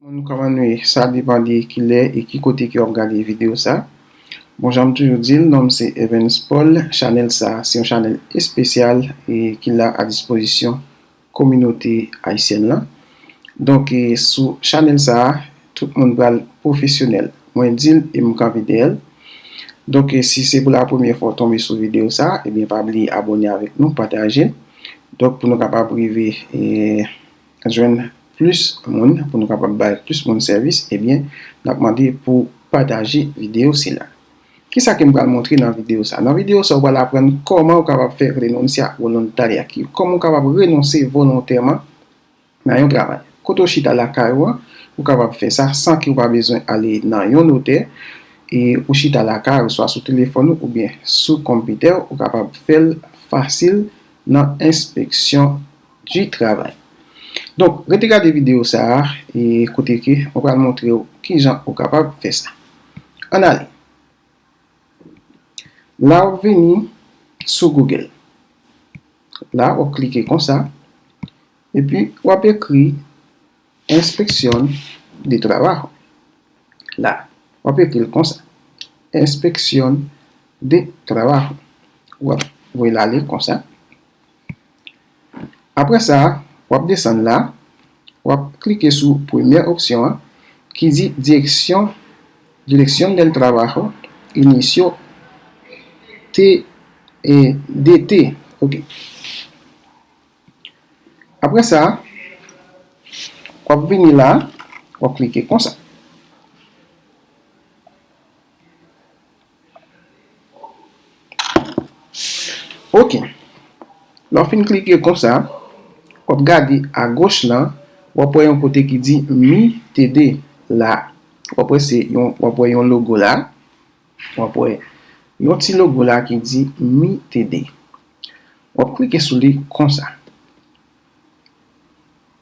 Moun kòman nou ye? Sa depan de kilè e ki kote ke wap gade video sa. Bon janm toujou dil nonm se Evens Paul, chanèl sa se yon chanèl espesyal e ki la a dispozisyon kominote ayisyèn lan. Donk sou chanèl sa tout moun pral pwofesyonèl. Mwen dil e m kanpe dèyèl. Donk si se pou la premyè fwa w tonbe sou video sa ebyen pa bliye abòne avèk nou, patajel donk pou nou kapab rive. jwenn plis moun pou nou kapab bay plis moun sèvis ebyen nap mande pou pataje video sila. Kisa kem pral montre nan video sa nan video sa ou pral aprann kòman ou kapab fè renuncia voluntaria ki kòman ou kapab renonse volontèman nan yon travay kote ou chita lakay ou an ou kapab fè sa san ke ou pa bezwen ale nan yon notè e ou chita lakay ou swa sou telefòn ou oubyen sou konpitèw ou kapab fèl fasil nan enspeksyon du travail. Donk rete gade video sa a e kote ke mwen pral montre ou kijan ou kapab fè sa. Ann ale. La wap vini sou Google. La wap klike konsa e pi wap ekri inspección de trabajo. La wap ekri l konsa. Inspección de trabajo. Wap voye l ale konsa. Aprè sa, wap desann la, wap klike sou premyè opsyon an ki di direksyon Dirección del Trabajo, Inicio de DT. Ok. Aprè sa, wap vini la, wap klike konsa. Ok, lè w fin klike konsa, w ap gade agoch lan, w ap wè yon kote ki di Mi TD la. W ap wè se yon, w ap wè yon logo la. W ap wè yon ti logo la ki di Mi TD. W ap klike sou li konsa.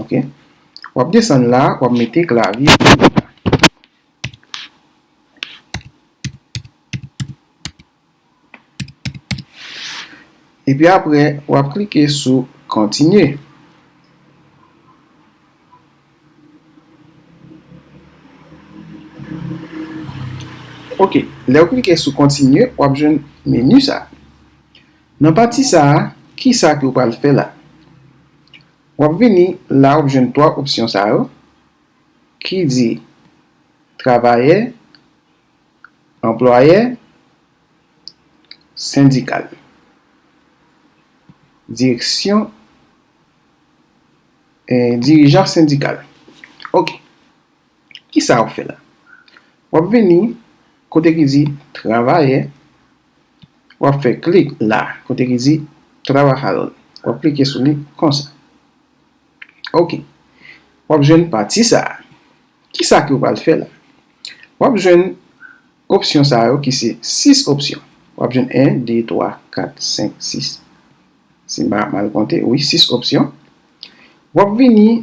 Ok. Wap desann la, wap mete klavye pou ou. E pi apre, wap klike sou kontinye. Ok. Lè ou klike sou kontinye, wap jwenn meni sa. Nan pati sa a, ki sa ke ou pral fè la? W ap vini la ou jwenn twa opsyon sa yo ki di travayè, anplwayè, sendikal. Direksyon, dirijan sendikal. Ok. Ki sa w ap fè la? W ap vini kote ki di travayè. w ap fè klik la kote ki di Trabajaron w ap klike sou li konsa ok w ap jwenn pati sa a kisa ke w pral fè la w ap jwenn opsyon sa yo ki se 6 opsyon w ap jwenn 1 2 3 4 5 6 si m pa mal konte wi 6 opsyon w ap vini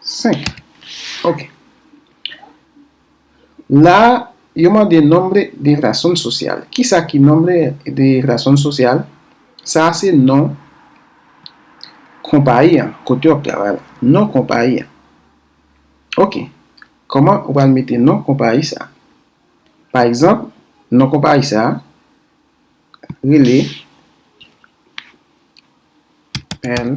5, ok La a, yo mande nombre de razón social. Kisa ki nombre de razón social? Sa a se non konpayi an, kote w ap travay la. Non konpayi an. Ok. Kòman ou pral mete non konpayi sa a? Pa egzanp, non konpayi sa a rele El.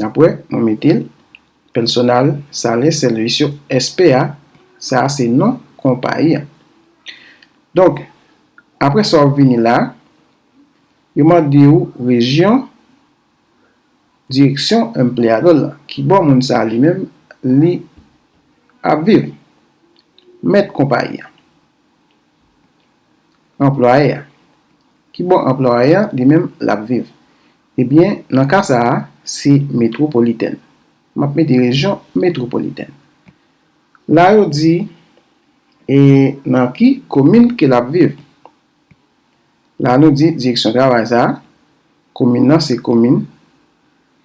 Nap wè mwen metel Personal Sales Servicio SPA sa a se non konpayi an. Donk aprè sa wap vini la yo mande ou rejyon direksyon empleador lan kibò moun sa a li menm li ap viv. Mèt konpayi an. anplwaye a. Ki bò anplwaye a li menm l ap viv? Ebyen, nan ka sa a, se metwopolitèn. M ap mete rejyon metwopolitèn. La yo di, e nan ki komin ke l ap viv? La nou di direksyon travay sa a, komin nan se komin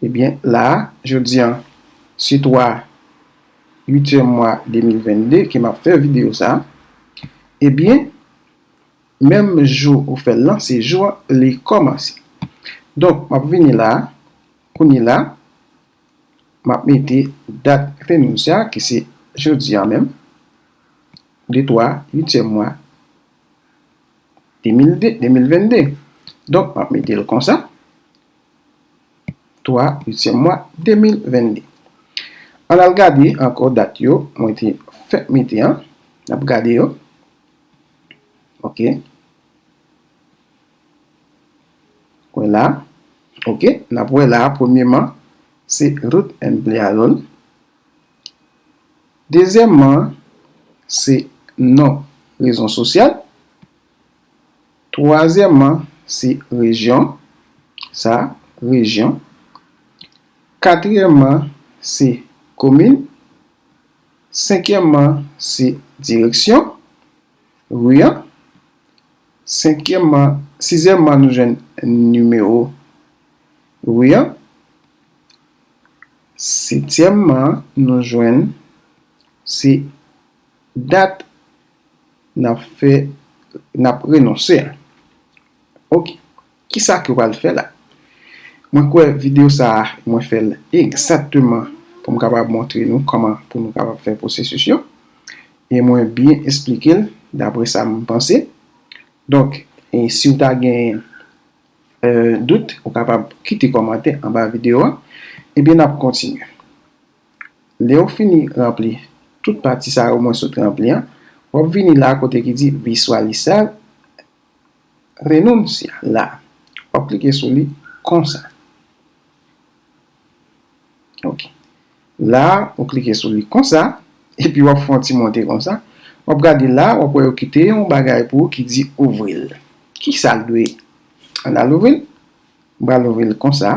Ebyen la a, jodi an, se 3 uityèm mwa 2022 ke m ap fè videyo sa a, ebyen, menm jou ou fè l lan, se jou an li kòmanse. Donk, m ap vini la a, kounye la, m ap mete dat fenous sa a ki se jodi an menm, de 3 uityèm mwa 2022. Donk, m ap mete l konsa. 3 uityèm mwa 2022. Ann al gade ankò dat yo mwen te fè mete an. N ap gade yo. Ok. Wè la. Ok. N ap wè la a premyeman se Ruth M. Blealon. Dezyèmman se non rezon sosyal. Twazyèmman, se rejyon, sa, rejyon. Katriyèmman, se komin. Senkyèmman, se direksyon, ri an. Senkyèmman, sizyèmman nou jwenn nimewo ri an. Setyèmman, nou jwenn, se Dat nap fè nap renonse a ok kisa ke wal fè la mwen kwè video sa mwen fèl egzakteman poum kapab montre nou kòman pou nou kapab fè pwosesis yo e mwen byen esplikel dapre sam panse donk siw ta gen dout ou kapab kite kòmantè anba video a ebyen nap kontinye. Lè ou fini ranpli tout pati sa yo mwen sot ranpli an, w ap vini la kote ki di Visualizar renuncia la a. W ap klike sou li konsa. Ok. La a, ou klike sou li konsa, epi w ap fè yon ti monte konsa. W ap gade la a, w ap wè yo kite yon bagay pou ou ki di ouvri l. Ki sa l dwe? Ann al ouvri l. M pral ouvri l konsa.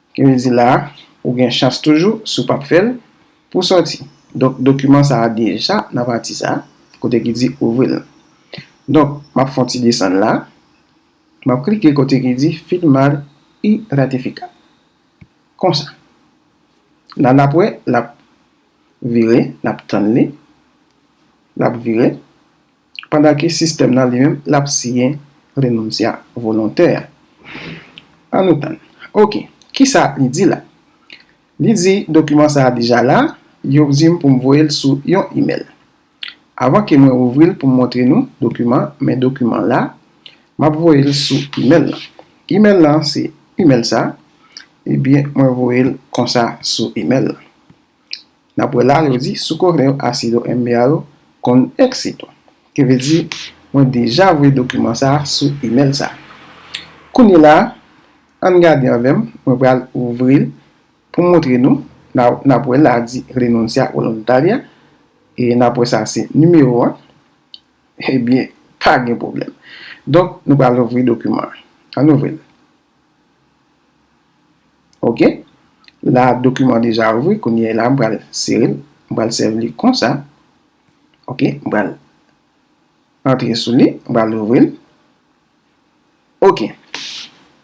Ki vle di la a, ou gen chans toujou, si w pap fè l, pou w sòti. Donk dokiman sa a deja nan pati sa a, kote ki di ouvri l lan. Donk, m ap fè yon ti desann la a. M ap klike kote ki di firmar y ratificar. Konsa. La n ap wè l ap vire, n ap tann li. L ap vire. pandan ke sistèm nan li menm l ap siyen renonsia volontè a. An nou tann. Ok. Kisa li di la? Li di dokiman sa a deja la, yo di m pou m voye l sou yon imèl. Avan ke mwen ouvri l pou m montre nou dokiman, men dokiman la, m ap voye l sou imèl lan. Imèl lan se imèl sa a, ebyen mwen voye l konsa sou imèl lan. N ap wè la yo di sou kore yo a si yo enbe a yo konn eksito. Ki vle di mwen deja voye dokiman sa sou imèl sa. Kounye la ann gade anvè m mwen pral ouvri l pou m montre nou n ap wè la di Renuncia Voluntaria e n ap wè sa se nimewo an ebyen pa gen pwoblèm. Donk nou pral ouvri dokiman an. Ann ouvri l. Ok, la dokiman deja ouvri, kounye la m pral sere l, m pral sèvi li konsa. Ok, m pral antre sou li, m pral ouvri l. Ok,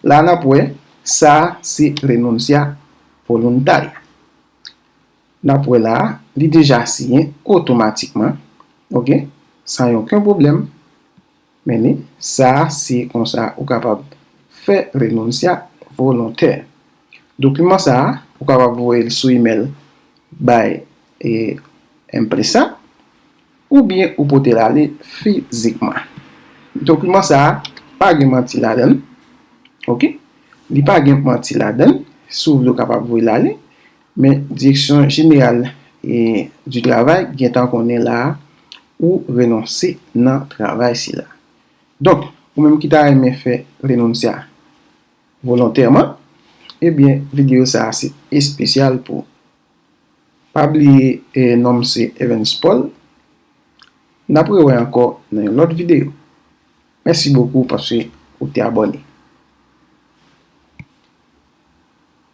la nap wè, sa se Renuncia Voluntaria. Nap wè la, li deja siyen otomatikman, ok, san yon ken pwoblèm. Meni, sa a si konsa ou kapab fè renoncia volontè. Dokiman sa a ou kapab voye l sou imèl bay empresa oubyen ou pote l ale fizikman. Dokiman sa a pa gen manti ladan l, ok. Li pa gen manti ladan l, si w vle ou kapab voye l ale. Men Direksyon Jeneral du Travay gentan konnen la a ou renonse nan travay sila. Donk, ou menm ki ta renmen fè renoncia volontèman, ebyen videyo sa a se espesyal pou ou. Pa bliye non m se Evens Paul. N ap rewè ankò nan yon lòt videyo. Mèsi bokou paske ou te abòne.